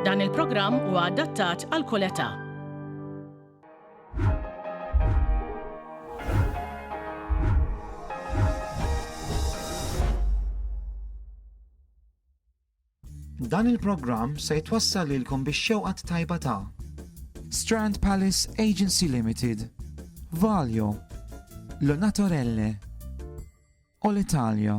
Dan il-programm huwa adattat għal kull età. Dan il-programm se jitwassal lilkom biex xewqat tajba ta' Strand Palace Agency Limited, Valjo, Lonatorelle, Olitalia.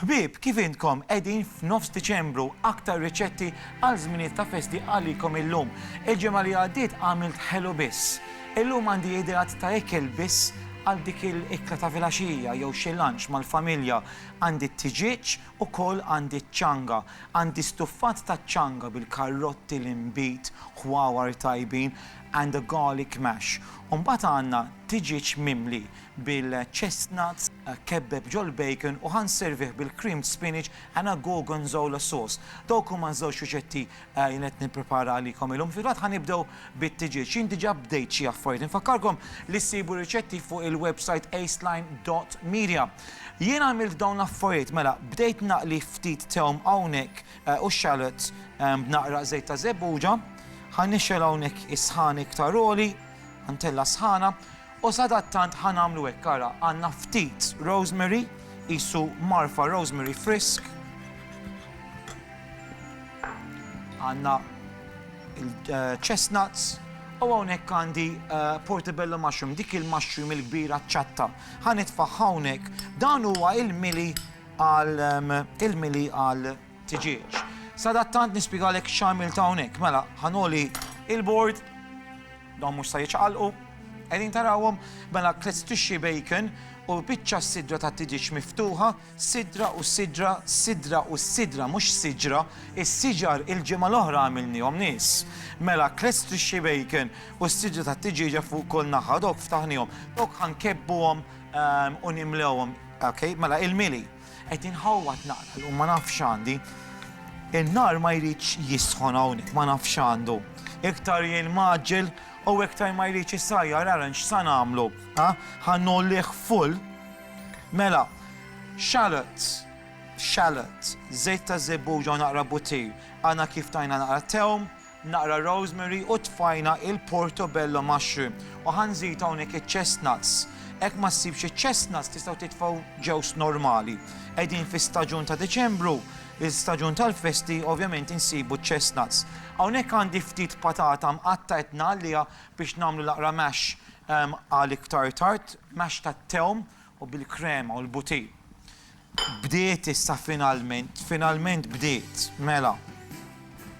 Ħbieb, kif intkom qegħdin f'nofs Diċembru, aktar riċetti għal żminijiet ta' festi għalikom illum. Il-ġimgħa li għaddiet għamilt ħelu biss. Illum għandi ideat ta' ikel biss għal dik il-ikla ta' filgħaxija jew xi lunch mal-familja. Għandi t-tiġieġ, ukoll għandi ċ-ċanga. Għandi stuffat taċ-ċanga bil-karrotti, l-inbid, ħwawar tajbin and a garlic mash. U mbagħad għandna tiġieġ mimli bil-chestnuts, kebbeb ġol-bacon u ħa nservih bil-creamed spinach and a gorgonzola sauce. Dawk huma ż-żewġ riċetti li jien qed nipprepara għalikom illum. Fil-fatt ħa nibdew bit-tiġieġ. Jien diġà bdejt xi affarijiet. Infakkarkom li ssibu r-riċetti fuq il-websajt aceline dot media. Jien għamilt dawn l-affarijiet, mela, bdejt naqli ftit tewm hawnhekk u x-shallots b'naqra żejt ta' żebbuġa. Ħa nixgħel hawnhekk is-sħan iktar għoli, ħa ntella' s-sħana. U sadattant ħa nagħmlu hekk, ara, għandna ftit rosemary, qisu marfa rosemary frisk. Għandna il-chestnuts, eh, U hawnhekk għandi eh, portobello mushroom, dik il-mushroom il-kbira ċatta. Ħanitfa' hawnhekk dan huwa il-mili għal ehm, il-mili għal tiġiex. Sadattant nispjegalek x'għamilt hawnhekk. Mela, ħanoli il-bord, dawn mhux sa jiċqalqu, qegħdin tarawhom, mela klezz tixxi bacon u biċċa sidra ta' tiġieġ miftuħa, sidra u sidra, sidra u sidra, mhux siġra, is-siġar il-ġimgħa l-oħra għamilnihom nies. Mela klezz tixxi bacon u s-sidra ta' tiġieġa fuq kull naħa dok ftaħnihom, dok ħankebbuhom ehm, u nimlewhom. Okay, mela il-mili. Qed inħawwad naqra llum ma nafx x'għandi. In-nar ma jridx jisħon hawnhekk ma nafx x'għandu. Iktar jien mgħaġġel u iktar ma jridx isajjar ara x'sa nagħmlu. Ha? Ħa ngħollieh full. Mela, xalot, xalot, żejt ta' żebbuġa u naqra butir, għana kif tajna naqra tewm, naqra rosemary u tfajna il-portobello mushroom u ħa nżid hawnhekk iċ-chestnuts. Hekk ma ssibx iċ-chestnuts tistgħu titfgħu ġewż normali. Qegħdin fi staġun ta' Diċembru, l-istaġun tal-festi ovvjament insibu ċ-chestnuts. Hawnhekk għandi ftit patata mqatta' qed ngħalliha biex nagħmlu l-aqra mash għal iktar tard, mash tat-tewm u bil-krema u l-bouti. Bdiet issa finalment, finalment bdiet, mela.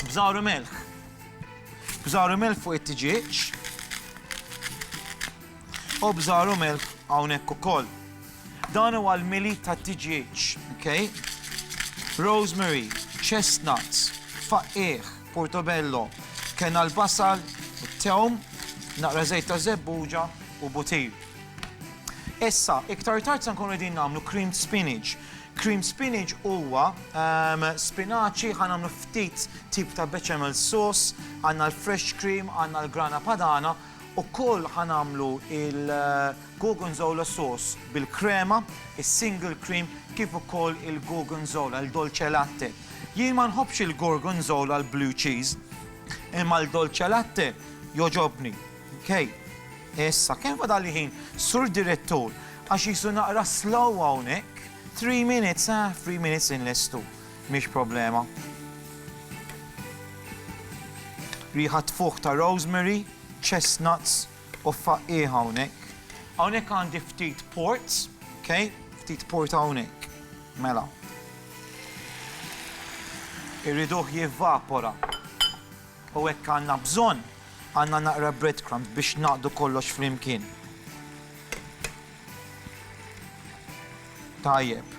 Bżar u melħ. Bżar u melħ fuq it-tġieġ. U bżar u melħ hawnhekk ukoll. Dan huwa l-mili ta' tġieġ, okay? Rosemary, chestnuts, faqqieħ, portobello, kena l-basal, it-tewm, naqra żejt ta' żebbuġa u butir. Issa, iktar tard se nkunu qegħdin nagħmlu creamed spinach. Creamed spinach huwa ehm, spinaċi ħa nagħmlu ftit tip ta' bechamel sauce, għandna l-fresh cream, għandna l-grana padana, u koll ħa nagħmlu il-gorgonzola eh, sauce bil-krema, il-single cream, kif ukoll il-gorgonzola, il-dolce latte. Jien ma nħobbx il-gorgonzola l-blue cheese, imma l-dolce latte joġobni. Kej, issa, kemm fadalli ħin, Sur Direttur, għax qisu naqra slow hawnhekk. Three minutes, eh, three minutes inlestu. Mhix problema. Riħa tfuħ ta' rosemary, chestnuts u faqqi hawnhekk. Hawnhekk għandi ftit port, okay? Ftit port hawnhekk. Mela. Irriduh jivvapora. U hekk għandna bżonn. Għandna naqra breadcrumbs biex ngħaqqdu kollox flimkien. Tajjeb.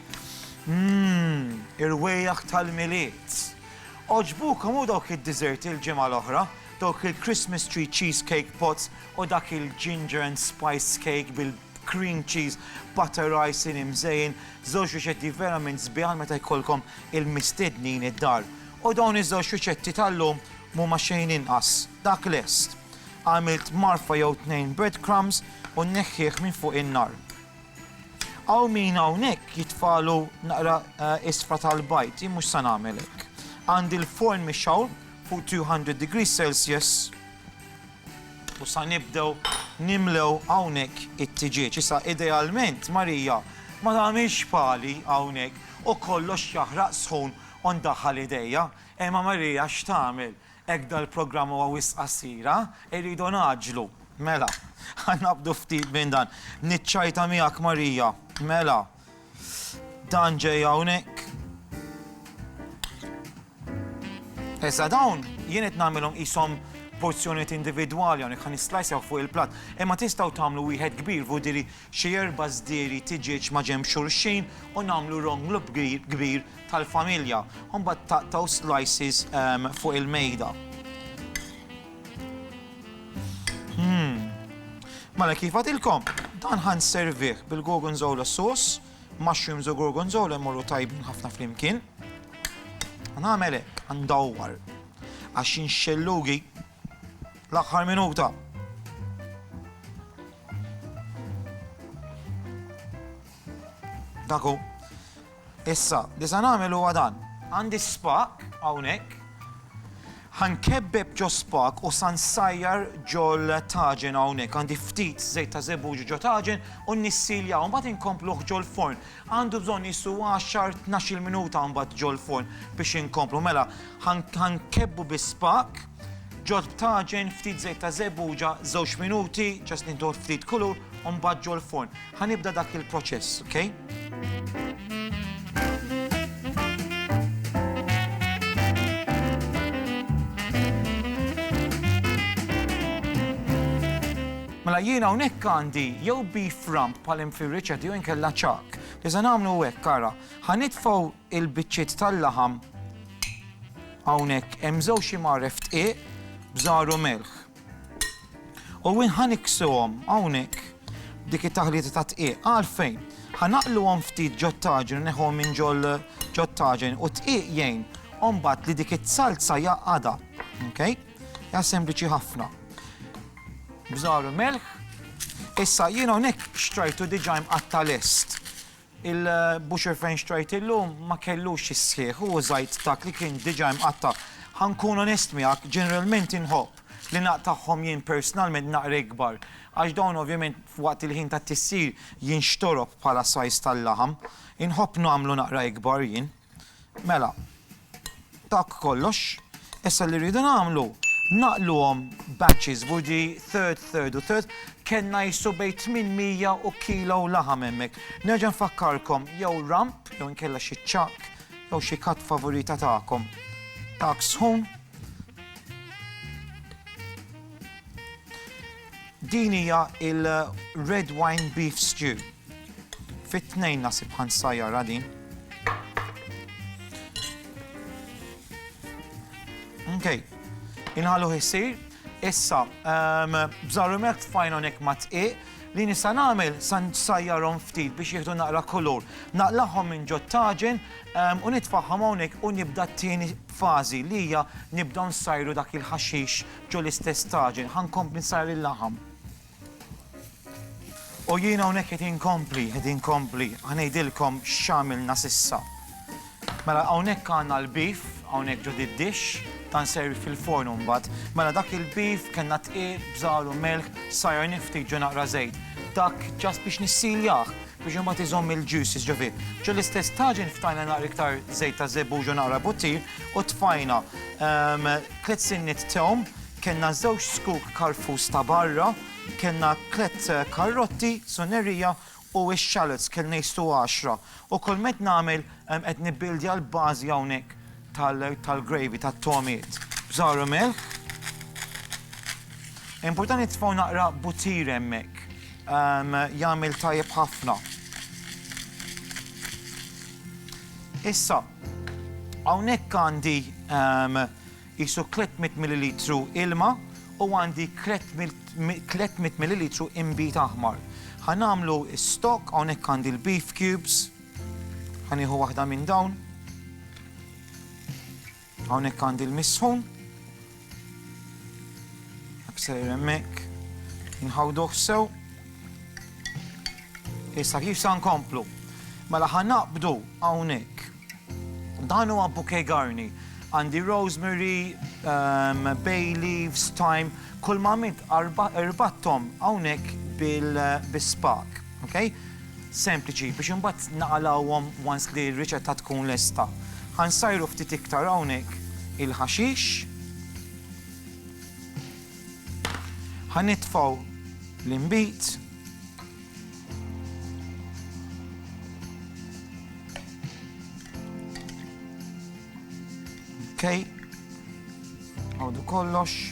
Mmm, irwejjaħ tal-Milied! Għoġbukom hu dawk id-desserti l-ġimgħa l-oħra, dawk il-Christmas Tree Cheesecake Pots u dak il-Ginger and Spice Cake bil-Cream Cheese Butter Icing imżejjen, żewġ riċetti verament sbieħ għal meta jkollkom il-mistednin id-dar. U dawn iż-żewġ riċetti tal-lum m'huma xejn inqas, dak lest. Għamilt marfa jew tnejn breadcrumbs u nneħħih minn fuq in-nar. Hawn min hawnhekk jitfagħlu naqra isfra tal-bajd, jien mhux se nagħmel hekk. Għandi l-forn mixgħul fuq 200 degrees Celsius u sa nibdew nimlew hawnhekk it-tiġieġ. Issa idealment Marija ma tagħmilx pali hawnhekk u kollox jaħraq sħun U ndaħħal idejja, Ema Marija x'tagħmel? Hekk dal-programm huwa wisq qasir, ha? Irridu ngħaġġlu. Mela, ħa naqbdu ftit minn dan. Niċċajta miegħek Marija. Mela, dan ġej hawnhekk. Issa dawn jien qed nagħmilhom qishom porzjonijiet individwali hawnhekk ħa nislajsjaw fuq il-platt. Imma tistgħu tagħmlu wieħed kbir vudili xi erba' żdieri tiġieġ maġenb xulxin u nagħmlu ronglu kbir tal-familja u mbagħad taqtgħu slices fuq il-mejda. Hmm. Mela kif għadilkom, dan ħa nservih bil-gorgonzola sauce, mushrooms u gorgonzola jmorru tajbin ħafna flimkien. Nagħmel hekk, ndawwar. Għax xellugi L-aħħar minuta. Daku. Issa, li sa nagħmel huwa dan. Għandi spak hawnhekk. Ħankebbeb ġo spak u san sajjar ġol taġen hawnhekk. Għandi ftit żejt ta' żebuġ ġo taġen u nissilja u mbagħad inkompluh ġol forn. Għandu bżonn jisu 10-12 minuta mbagħad ġol forn biex inkomplu. Mela, Ħankebbu bi spak, ġod b'taġen, ftit żejt ta' żebbuġa, żewġ minuti, ġast nieħdu ftit kulur, u mbagħad ġol forn. Ħanibda dak il-proċess, okay? Mela jiena hawnhekk għandi jew beef rump bħal hemm fir-riċetti jew inkella ċak. Iżda nagħmlu hekk ara. Ħanitfgħu Il-biċċiet tal-laħam hawnhekk hemm żewġ imgħaref dqiq b'żahar u melħ. U ħa niksuhom hawnhekk b'dik it-taħlita ta' dqiq. Għalfejn? Ħa naqluhom ftit ġot-taġen u neħuhom minn ġol ġot-taġen u d-dqiq jgħin u mbagħad li dik is-salza jaqgħadha. Okay? Ja sempliċi ħafna. Bżaru melħ. Issa jien hawnhekk xtrajtu diġà imqatta' lest. Il-butcher fejn xtrajt illum ma kellux is-sħiħ u użajt dak li kien diġà imqatta'. Ħa nkun onest miegħek, ġeneralment inħobb li naqtagħhom jien personalment naqra ikbar għax dawn ovvjament waqt il-ħin tat-tissir jinxtorob bħala size tal-laħam. Inħobb nagħmlu naqra ikbar jien. Mela, dak kollox. Issa li rridu nagħmlu, naqluhom batches, budi third, third u third, kellna jissu bej 800 u kilo u laħam hemmhekk. Nerġa' nfakkarkom jew ramp, jew inkella xi ċakk, jew xi kat favorita tagħkom. Tak sħun. Din hija il-Red Wine Beef Stew. Fit-tnejn nasib ħansajjarha din. Okay. Inħallu jisir, issa, ehm, bżarrumek tfajn onek ma tqiq, li nisa namel san sajjarom ftit biex jieħdu naqra kolor. Naqlaħom minn ġot taġen ehm, u nitfaħħom hawnhekk u nibda t-tieni fażi li hija nibda nsajru dak il-ħaxix Ġo l-istess taġen ħa nkompli nsajjar il-laħam. U jiena hawnhekk qed inkompli, qed inkompli, ħa ngħidilkom x'għamilna s'issa. Mela hawnhekk għandna l-beef, hawnhekk ġo did-dix, ta' nservi fil-forn imbagħad. Mela dak il-beef kellna tqiegħ, bżar u melħ, sajjar niftit ġo naqra żejt. Dak ġast biex nissiljah biex imbagħad iżomm il-juices ġo fih. Ġo l-istess taġen ftajna naqra iktar żejt ta' żebbuġ u naqra buttir U tfajna tliet sinniet tewm, kellna żewġ zkuk karfus ta' barra, kellna tliet karrotti, sunerija, u x-shallots kellna jistu għaxra. U kull ma qed nagħmel qed nibbuildja l-bażi hawnhekk tal-gravy, tat-togħmiet. Żgħar u melħ. Importanti tfgħu naqra butir hemmhekk. Jagħmel tajjeb ħafna. Issa, hawnhekk għandi qisu 300 millilitru ilma u għandi 300 millilitru inbid aħmar. Ħa nagħmlu stock, hawnhekk għandi l-beef cubes, ħa nieħu waħda minn dawn. Hawnhekk għandi l-misħun. Sejjer hemmhekk. Inħawduh sew. Issa kif sa nkomplu? Mela ħa naqbdu hawnhekk. Dan huwa bouquet garni. Għandi rosemary, ehm, bay leaves, thyme, kull ma mit erbattom hawnhekk bil-spak. Okay? Sempliċi, biex imbagħad naqalgħuhom once li r-riċetta tkun lesta. Ħansajru ftit iktar hawnhekk il-ħaxix. Ħanitfgħu l-imbit. Okay. Għodu kollox.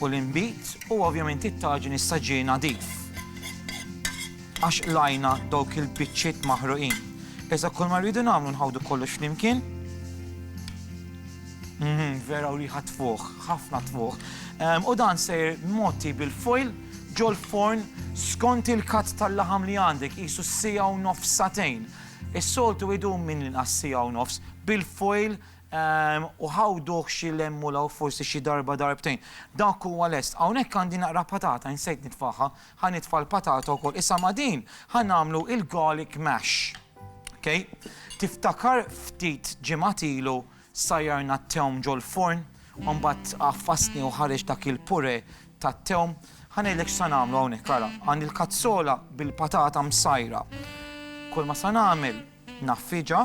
u l-inbid u ovvjament it-taġin issa ġie nadif. Għax qlajna dawk il-biċċiet maħruqin. Iżda kull ma rridu nagħmlu nħawdu kollox flimkien. Mhm, vera u riħa tfuħ, ħafna tfuħ. Ehm, u dan sejr moti bil-foil ġol forn skont il-kat tal-laħam li għandek jisu s-sija u nofs satejn. Is-soltu idum minn l-inqas sija u nofs bil-foil u ħawduh xi lemm u law forsi xi darba darbtejn. Dak huwa lest. Hawnhekk għandi naqra patata, insejt nitfagħha, ħa nitfa' l-patata wkoll. Issa ma' din ħa nagħmlu l-garlic mash. Ok? Tiftakar ftit ġimgħat ilu sajjarna t-tewm ġol-furn u mbagħad għaffasni u ħareġ dak il-purè tat-tewm? Ħa ngħidlek x'sa nagħmlu hawnhekk, ara. Għandi l-kazzola bil-patata msajra. Kull ma sa nagħmel naffiġha.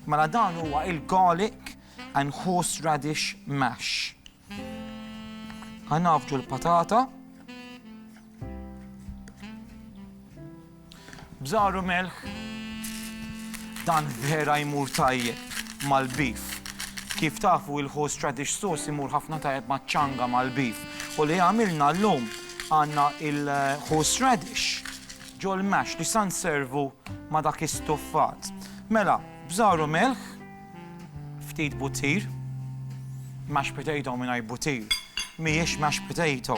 Mela dan huwa il-garlic and horse radish mash. Ħa nagħfġu l-patata. Bżaru melħ. Dan vera jmur tajjeb mal-beef. Kif tafu il-horse radish sauce imur ħafna tajjeb maċ-ċanga mal-beef. U li għamilna llum għandna il-horse radish Ġo l-mash li sa nservu ma' dak istuffat. Mela, bżar u milħ, ftit butir, mashed potato mingħajr butir mhijiex mashed potato.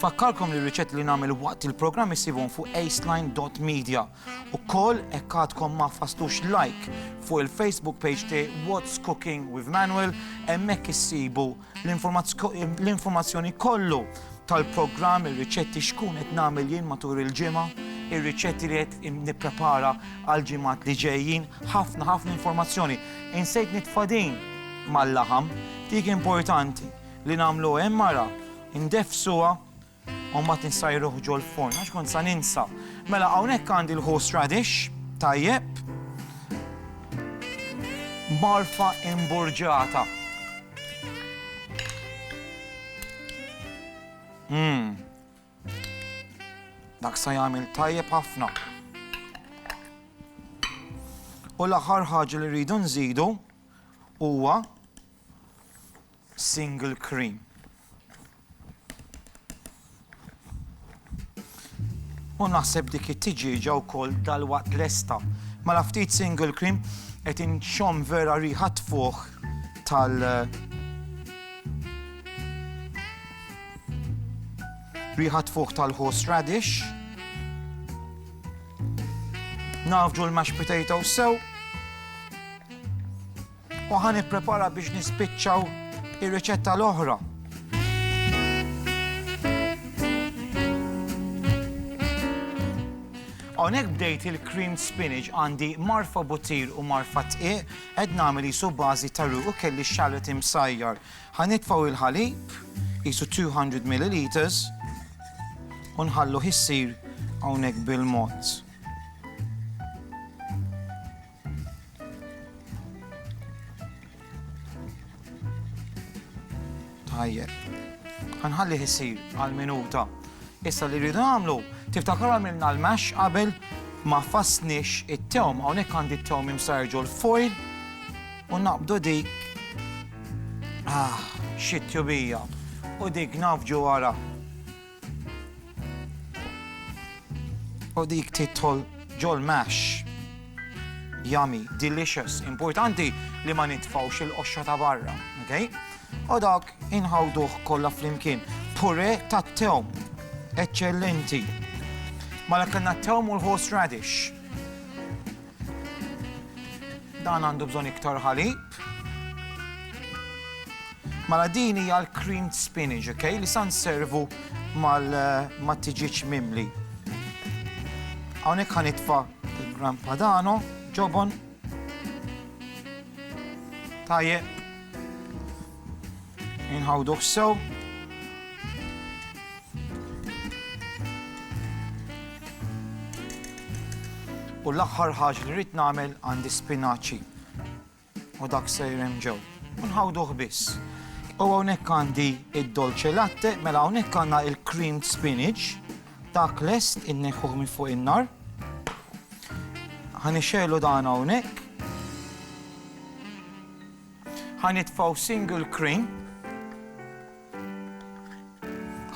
Fakkarkom li r-riċetti li nagħmel waqt il-programm issibhom fuq aceline.media. Ukoll hekk għadkom ma fastux like fuq il-Facebook page ti What's Cooking with Manuel hemmhekk issibu l-informazzjoni kollu tal-programm, ir-riċetti xkun qed nagħmel jien matul il-ġimgħa, ir-riċetti li qed nipprepara għal ġimgħat li ġejjin, ħafna ħafna informazzjoni. Insejt nitfadin mal-laħam, dik importanti li nagħmlu hemm mara, ndefsuha U mbagħad insajruh ġol-forn għax kont sa ninsa. Mela hawnhekk għandi l-horse radish, tajjeb. Marfa imburġata. Mmm. Dak sa jagħmel tajjeb ħafna. U l-aħħar ħaġa li rridu nżidu huwa single cream. U naħseb dik it-tiġieġa wkoll dalwaqt lesta. Mela ftit single cream qed inxomm vera riħa tfuħ tal riħa tfuħ tal-horse radish. Nafġu l-mashed potatoes sew. u ħa nipprepara biex nispiċċaw ir-riċetta l-oħra. Hawnhekk bdejt il-cream spinach għandi marfa butir u marfa tqiq qed nagħmel isu bażi ta' u kelli xallet imsajjar. Ħa nitfgħu il-ħalib isu 200 ml u nħallu ħissir hawnhekk bil-mod. Tajjeb. Ħanħallih isir għal minuta. Issa li rridu nagħmlu, tiftakar għamilna l-mash qabel ma fasnix it-tewm, hawnhekk għandi t-tewm imsarġu l-foil u naqbdu dik ah, xit tjubija u dik nafġu wara. U dik titħol ġol mash. Yummy, delicious, importanti li ma nitfawx il-qoxxa ta' barra, ok? U dak inħawduh kollha flimkien. Pure ta' tewm, eccellenti. Mala kellna t-tewm u l-horseradish. Dan għandu bżonn iktar ħalib. Mela din hija l-creamed spinach, ok? Li sa nservu mal-tiġiġ mimli. Hawnhekk ħanitfa' il-gram padano, ġobon. Tajjeb. Inħawduh sew. U l-aħħar ħaġ li rrid nagħmel għandi spinaċi. U dak sejrem ġew. U nħawduh biss. U hawnhekk għandi id-dolce latte, mela hawnhekk għandna il-creamed spinach, dak lest inneħħuh minn fuq in-nar. Ħanixxelu dan hawnhekk. Ħa nitfgħu single crane.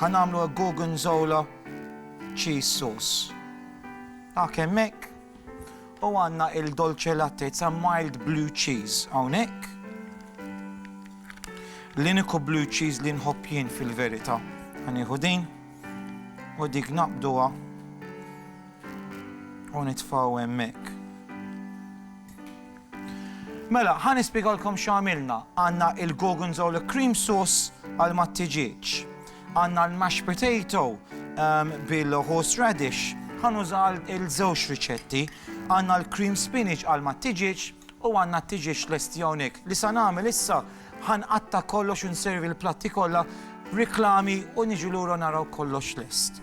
Ħa nagħmlu a gorgonzola cheese sauce. Dak hemmhekk. U għandna il-dolce latte, it's a mild blue cheese hawnhekk. L-iniku blue cheese li nħobb jien fil-verita. Għaniħu din u dik naqbduha u nitfaw hemmhekk. Mela, ħa nispjegalkom x'għamilna. Għandna il-gorgonzola cream sauce għal mat-tiġieġ. Għandna l-mashed potato bil-horse radish. Ħa nuża għal żewġ riċetti. Għandna l-cream spinach għal mat-tiġieġ u għandna t-tiġieġ lesti hawnhekk. Li sa nagħmel issa, ħa nqatta' kollox u nservi l-platti kollha b'riklami u niġu lura naraw kollox lest.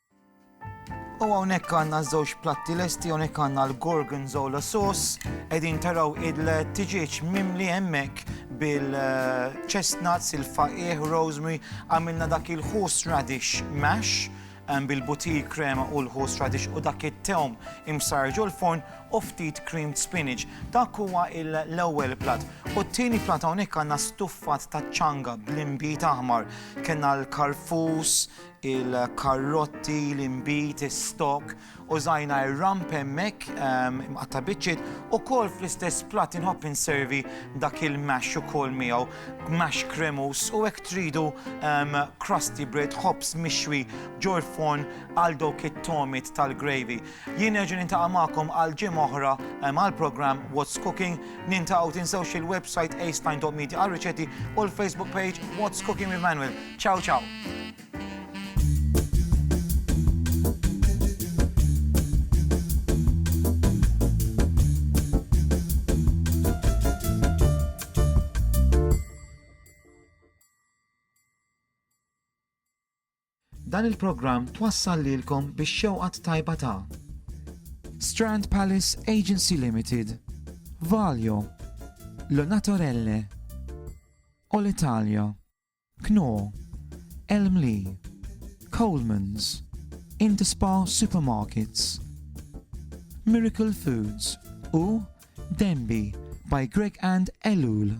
U hawnhekk għandna żewġ platti lesti hawnhekk għandna l-gorgonzola sauce qegħdin taraw il-tiġieġ mimli hemmhekk bil-chestnuts, il-faqih, rosemary, għamilna dak il-horse radish mash ehm, bil-butir krema u l-horse radish u dak it-tewm imsarġu l-forn u ftit creamed spinach. Dak huwa l-ewwel platt. U t-tieni platt hawnhekk għandna stuffat ta' ċanga bl-imbit aħmar. Kenna l-karfus, il-karrotti, l-inbid, is-stock, użajna r-ramp hemmhekk imqatta' biċċiet, ukoll fl-istess platt inħobb inservi dak il-mash ukoll miegħu, mash kremuż u hekk tridu crusty bread, ħobż mixwi ġol-forn għal dawk it-togħmiet tal-gravy. Jien nerġa' nintaqa' magħkom għal ġimgħa oħra mal-programm What's Cooking. Nintaqgħu tinsewx il-website aceline.media għar-riċetti u l-Facebook page What's Cooking with Manuel. Ciao ciao! Dan il-programm twassal lilkom bix-xewqa t-tajba ta'. Strand Palace Agency Limited, Valio, Le Naturelle, Olitalia, Knorr, Elmli, Colemans, Interspar Supermarkets, Miracle Foods u Denby by Greg and Ellul.